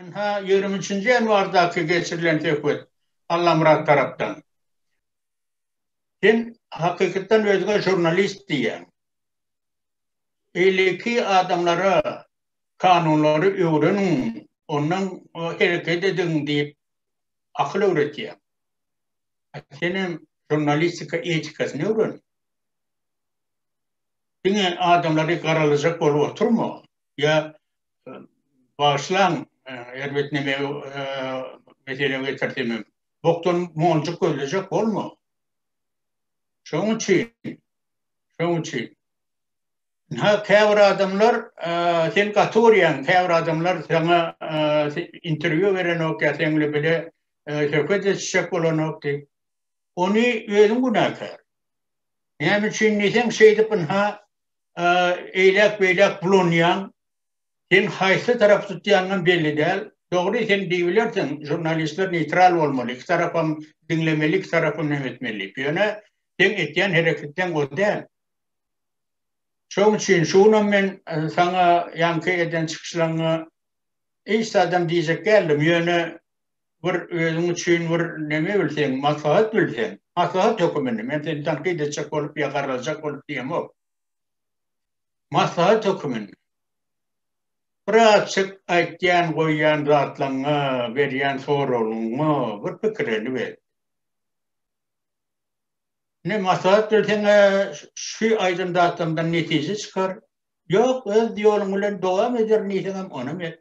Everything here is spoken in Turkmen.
Ynha, ýigrimi üçünji ýanwardaky geçirilen söhbet Allamyrat tarapdan. Sen hakykatdan özüňe žurnalist diýýäň. Beýleki adamlara kanunlary öwreniň, ondan hereket ediň diýip akyl öwretýäň. Senem žurnalistika etikasyny öwren. Diňe adamlary garalajak bolup oturma, ýa bagyşlaň, erbet nemegi mesele getirsemem, bokdan monjuk gözlejek bolma. Şonuň üçin, şonuň üçin. Ynha, käbir adamlar, sen gaty urýaň, käbir adamlar saňa interwýu berenok ýa seň bilen bile söhbet etişjek bolanok diýip, ony özüň günäkär. Näme üçin diýseň, şeýdip ynha eýläk-beýläk bulanýaň. Sen haýsy tarapy tutýanyňam belli däl. Dogry, sen diýibilersiň, žurnalistler neýtral bolmaly, iki tarapam diňlemeli, iki tarapam näme etmeli diýip. Ýöne seň etýän hereketiň o däl. Şonuň üçin şu günam men saňa ýaňky eden çykyşlaryňa hiç zadam diýjek däldim. Ýöne bir özüň üçin bir neme bilseň, maslahat bilseň, maslahat höküminde, men seni tankyt etjek bolup ýa garraljak bolup diýemok. Maslahat höküminde. Bir açyk aýtýan, goýýan zatlaňňa, berýän soragyňa bir pikirini ber. Ne maslahat bilseň, şu aýdan zatlardan netije çykar. Ýok, öz ýoluň bilen dowam ederin diýseňem, onam et.